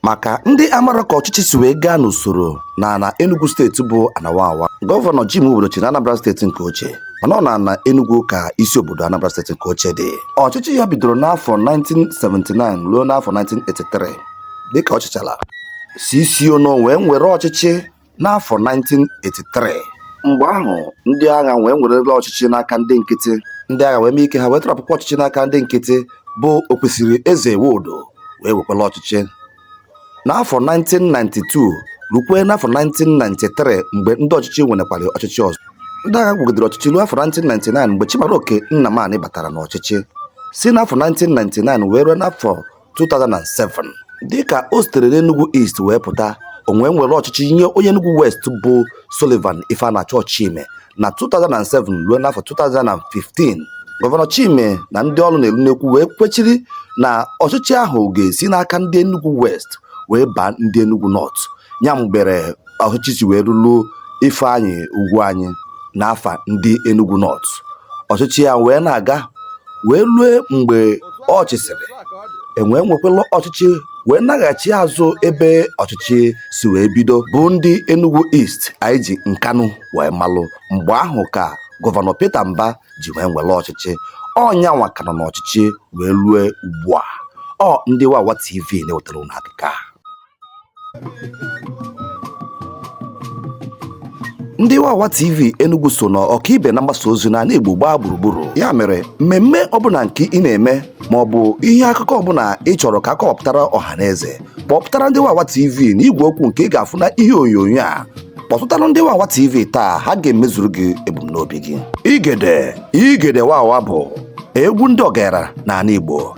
maka ndị amara ka ọchịchị si wee gaa n'usoro na ana Enugu steeti bụ ana Wawa gọvanọ Jim Nwobodo chịrị Anambra steeti nke ochie mana ọ na ana Enugu ka isi obodo Anambra steeti nke ochie dị ọchịchị ya bidoro n'afọ 1979 ruo n'afọ 1983 dịka ọ chịchara C.C. Onoh wee nwere ọchịchị N'afọ 1983, mgbe ahụ ndị agha wee werela ọchịchị n'aka ndị nkịtị. Ndị agha wee mee ike ha wee tọrọpụkwa ọchịchị n'aka ndị nkịtị bụ Okwesilieze Nwodo wee wekwala ọchịchị. N'afọ 1992 rukwee n'afọ 1993 mgbe ndị ọchịchị nwerekwara ọchịchị ọzọ. Ndị agha gwugidere ọchịchị ruo afọ 1999 mgbe Chimaroke Nnamani batara n'ọchịchị. Si n'afọ 1999 wee ruo n'afọ 2007 dịka o sitere n'Enugu East wee pụta o wee nwere ọchịchị nye onye Enugu West bụ Sullivan Ifeanacho Chime na 2007 ruo n'afọ 2015 gọvanọ Chime na ndị ọnụ na-elu n'okwu wee kwechiri na ọchịchị ahụ ga-esi n'aka ndị Enugu West wee baa ndị Enugu North ya mere ọchịchị si wee rulu Ifeanyi Ugwuanyi n'afa ndị Enugu North ọchịchị ya wee na-aga wee lue mgbe ọ chịsịrị e wee nwekwala ọchịchị wee naghachi azụ ebe ọchịchị si wee bido bụ ndị Enugu East anyị ji Nkanu wee malụ mgbe ahụ ka gọvanọ Peter Mbah ji wee nwere ọchịchị ọ nyanwa ka nọ n'ọchịchị wee lue ugbu a ọ ndị Wawa TV na-ewetara unu akụkọ a ndị wawa tv enugu so na ọkaibe na mgbasa ozi na ala igbo gbaa gburugburu ya mere mmemme ọbụla nke ị na-eme ma ọ bụ ihe akụkọ ọbụla ị chọrọ ka a kọwapụtara ọha na eze kpọpụtara ndị wawa tv na igwe okwu nke ị ga-afụ na ihe onyonyo a kpọtụtara ndị wawa tv taa ha ga-emezuru gị ebumnobi gị igede igede wawa bụ egwu ndị ọgaranya n'ala igbo